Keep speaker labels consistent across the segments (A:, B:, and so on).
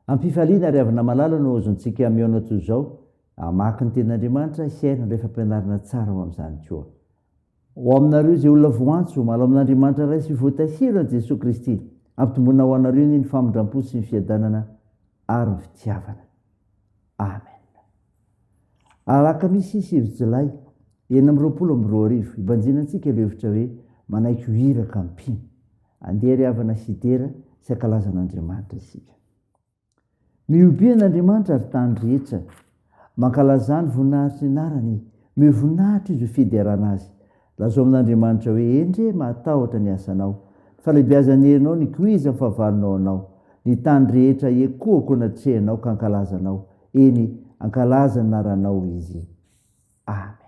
A: Am-pifaliana ry havana malala no aozontsika mihaona toy izao, hamaky ny Tenin'Andriamanitra, hihaino ilay fampianarana tsara ao amin'izany koa. Ho aminareo izay olona voantso, malao amin'Andriamanitra Ray sy voatahiro an'i Jesoa Kristy, ampitomboina ho anareo anie ny famindram-po sy ny fiadanana ary ny fitiavana. Amen. Alakamisy sivy Jolay enina amby roapolo amby roa arivo, hibanjina antsika ilay hevitra hoe manaiky ho iraka mpino. Andeha ry havana hidera sy hankalaza an'Andriamanitra isika. Mihobe an' Andriamanitra ry tany rehetra, mankalazà ny voninahitr'ny anarany, mihoa voninahitra izy ho fiderana azy. Lazao amin' Andriamanitra hoe, Endrey, mahatahotra ny asanao, ny falebiazan'ny herinao, ny koizan'ny fahavalonao anao. Ny tany rehetra hiekohako an' atrehinao ka hankalaza anao, eny, hankalaza ny anaranao izy. Amena.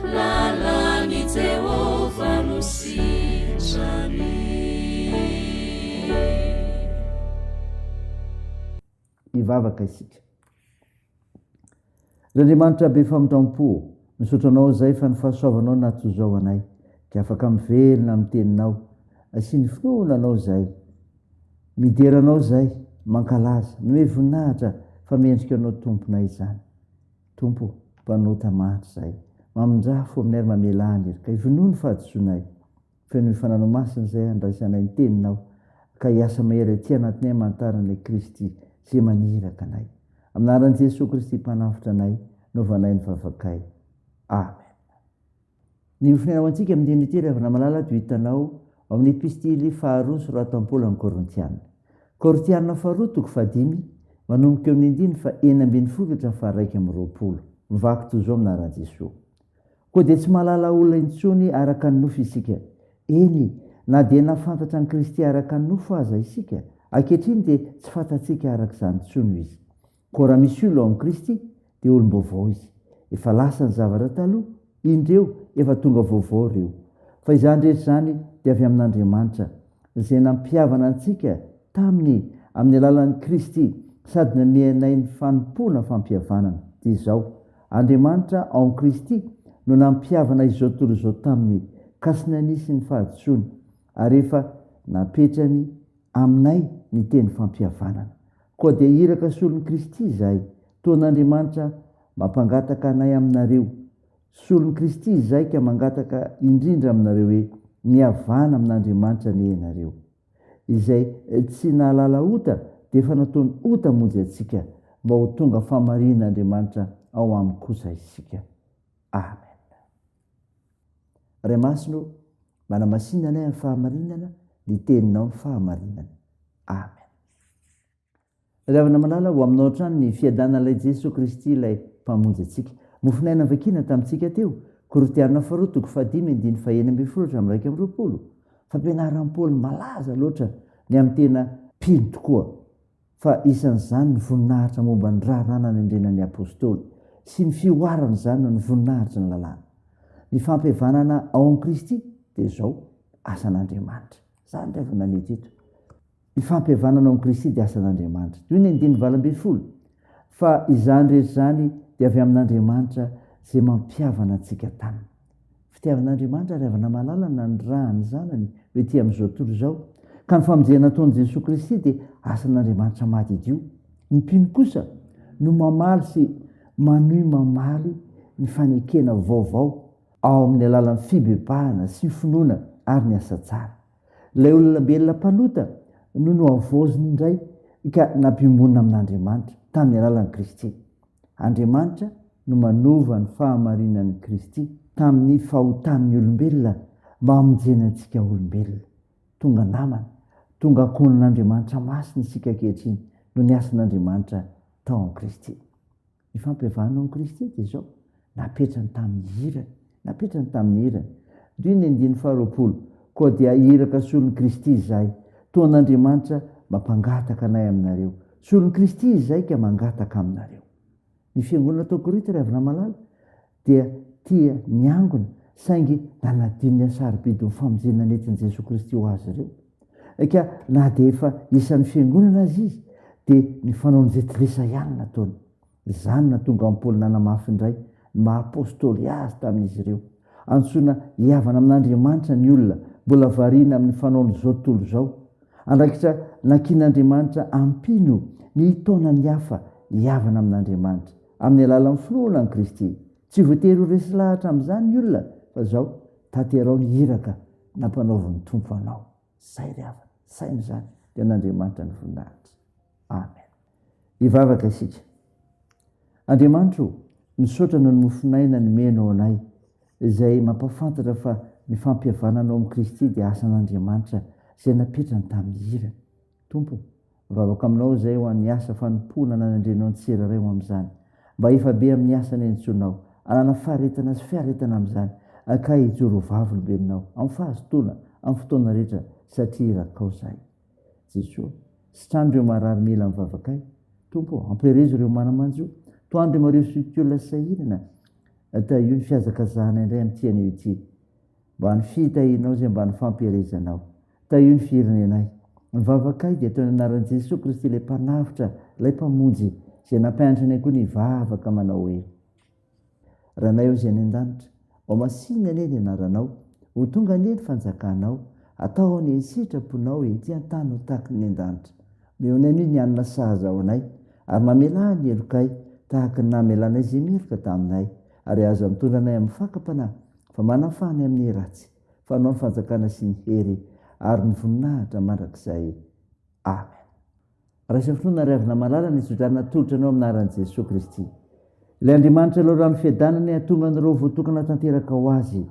B: Lalan'i Jehovah
A: no sitrany. Hivavaka isika. Ry Andriamanitra be famindram-po, misaotra Anao izay fa ny fahasoavanao nahatozao anay, dia afaka mivelona amin'ny teninao, asian'ny finoana Anao izay. Midera Anao izay, mankalaza, manome voninahitra fa mendrika Anao Tomponay izany. Tompo mpanota mahantra zahay. Mamindrà fo aminay ary mamelà ny hery. Ka ivonoy ny fahadisoanay. Feno ny fananao masina izay handraisanay ny teninao. Ka hiasa mahery aty anatinay hamantarana an'i Kristy izay maniraka anay. Amin'ny anaran'i Jesoa Kristy Mpanavotra anay no vanay ny vavakay. Amen. Ny mifonaina ho antsika amin'ny dinin'ity ry havana malala toy hitanao ao amin'ny epistily faharoa nosoratan'i Paoly amin'ny Korintiana. Korintiana faharoa toko fahadimy, manomboka eo amin'ny andininy fahenina ambin'ny folo ka hatramin'ny faharaika amby roapolo. Mivaky toy izao ny laharan'i Jesoa. Koa dia tsy mahalala olona intsony araka ny nofo isika. Eny, na dia nahafantatra an'i Kristy araka ny nofo aza isika, ankehitriny dia tsy fantatsika araka izany intsony Izy. Koa raha misy olona ao amin'i Kristy dia olom-baovao izy. Efa lasa ny zavatra taloha, indry eo efa tonga vaovao ireo. Fa izany rehetra izany dia avy amin'Andriamanitra, izay nampihavana antsika taminy amin'ny alalan'i Kristy sady nanome anay ny fanompoana fampihavanana. Dia izao, Andriamanitra ao amin'i Kristy no nampihavana izao tontolo izao taminy ka sy nanisy ny fahadisoany ary efa napetrany aminay ny teny fampihavanana. Koa dia iraka solon'i Kristy izay, toan'Andriamanitra mampangataka anay aminareo, solon'i Kristy izay ka mangataka indrindra aminareo hoe, mihavana amin'Andriamanitra anie ianareo. Izay tsy nahalala ota dia efa nataony ota hamonjy antsika, mba ho tonga famarihin'Andriamanitra ao aminy kosa isika. Amen. Ray Masina o, manamasina anay amin'ny fahamarinana, ny teninao ny fahamarinana. Amen. Ravina malala ho aminao hatrany ny fiadanan'ilay Jesoa Kristy ilay mpamonjy antsika. Mofonaina vakina tamintsika teo, Korintiana faharoa toko fahadimy andiny faheny ambin'ny folo hatramin'ny iraika amby roapolo. Fampianaran'i Paoly malaza loatra ny amin'ny tena mpino tokoa. fa isan'izany ny voninahitra momba ny raharaha nanendrena ny apostoly sy ny fihoarana izany noho ny voninahitry ny lalàna. Ny fampihavanana ao amin'i Kristy dia izao, asan'Andriamanitra. Izany indray vao namety eto. Ny fampihavanana ao amin'i Kristy dia asan'Andriamanitra. Toy ny andininy valo ambin'ny folo, fa izany rehetra izany dia avy amin'Andriamanitra izay mampihavana antsika taminy. Fitiavan'Andriamanitra ary havana-mahalala nanirahan' ny Zanany ho ety amin' izao tontolo izao, ka ny famonjena ataon' i Jesoa Kristy dia asan' Andriamanitra mahadidio. Ny mpino kosa no mamaly sy manohy mamaly ny fanekena vaovao ao amin' ny alalan' ny fibebahana sy ny finoana ary ny asa tsara. Ilay olombelona mpanota no nohavaoziny indray ka nampiombonina amin'Andriamanitra tamin'ny alalan'i Kristy. Andriamanitra no manova ny fahamarinan'i Kristy tamin'ny fahotan'ny olombelona mba hamonjena antsika olombelona. Tonga namana, tonga ankohonan'Andriamanitra masina isika ankehitriny noho ny asan'Andriamanitra tao amin'i Kristy. Ny fampiavahana ao amin'i Kristy dia izao, napetrany tamin'ny hirany, napetrany tamin'ny hirany. Dio ny andininy faharoapolo, Koa dia iraka solon'i Kristy izahay, toa an'Andriamanitra mampangataka anay aminareo. Solon'i Kristy izahay ka mangataka aminareo. Ny fiangonana tao Korinto, ry havana malala, dia tia miangona saingy nanadino ny hasarobidin'ny famonjena nentin'i Jesoa Kristy ho azy ireo. Eka na dia efa isan'ny fiangonana aza izy dia ny fanaon'i Zetlisa ihany no nataony. Izany no nahatonga an'i Paoly nanamafy indray ny maha apostoly azy tamin'izy ireo. Antsoina hihavana amin'Andriamanitra ny olona mbola variana amin'ny fanaon'izao tontolo izao. Andraikitra nakian'Andriamanitra hampino ny hitaona ny hafa hihavana amin'Andriamanitra. Amin'ny alalan'ny finoana an'i Kristy. Tsy voatery ho resy lahatra amin'izany ny olona fa izao, tanterao ny iraka nampanaovin'ny Tompo anao. Izay ry havana, saino izany, dia an'Andriamanitra ny voninahitra. Amen. Hivavaka isika. Andriamanitra o, misaotra noho ny mofon'aina nomenao anay, izay mampahafantatra fa ny fampihavananao amin'i Kristy dia asan'Andriamanitra izay napetrany tamin'ny irany. Tompo o, ravako aminao izay ho an'ny asa fanompoana nanendrenao ny tsirairay ho amin'izany. Mba hifa be amin'ny asa nenintsoinao, hanana faharetana sy fiaretana amin'izany, ka hijoro ho vavolombelonao amin'ny fahazotoana, amin'ny fotoana rehetra, satria irakao izahay. Jesoa, sitrano ireo marary mila ny vavakay. Tompo o, ampiherezo ireo mana-manjo. Tohano ireo marivo sy olon-tiolona sahirana. Tahio ny fihazakazahana indray amin'ity anio ity. Mba ny fitahianao izay mba ny fampiherezanao. Tahio ny firenenay. Ny vavakay dia ataony anaran'i Jesoa Kristy ilay Mpanavotra, ilay Mpamonjy, izay nampianatra anay koa ny hivavaka manao hoe, Ranay ao izay any an-danitra, ho masinina anie ny anaranao, ho tonga anie ny fanjakanao, atao anie ny sitraponao ety an-tany ho tahaky ny an-danitra. Omeo anay ny hanina sahaza ho anay, ary mamelà ny helokay tahaka ny namelanay izay meloka taminay, ary aza mitondra anay amin'ny fakam-panahy, fa manafà anay amin'ny ratsy. fa anao ny fanjakana sy ny hery ary ny voninahitra mandrakizay amen raisa finoana ry avina malala ny tsodrana atolotra anao amin'ny naran'i jesoa kristy ilay andriamanitra leo rano fiadana ny hatonga anareo voatokana tanteraka ho azy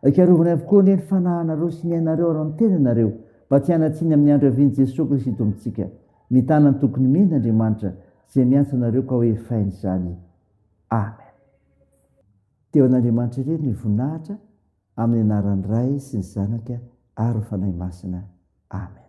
A: ikarovany avokoa anie ny fanahanareo sy ny ainareo ary ny tenanareo mba tsy hanatsiny amin'ny andro avian'i jesoa kristy tompontsika mitana ny tokony mena andriamanitra izay miantso anareo ka hoe fainy izany amen teo an'andriamanitra irery ny voninahitra Amin'ny anaran'ny Ray sy ny Zanaka ary ny Fanahy Masina. Amen.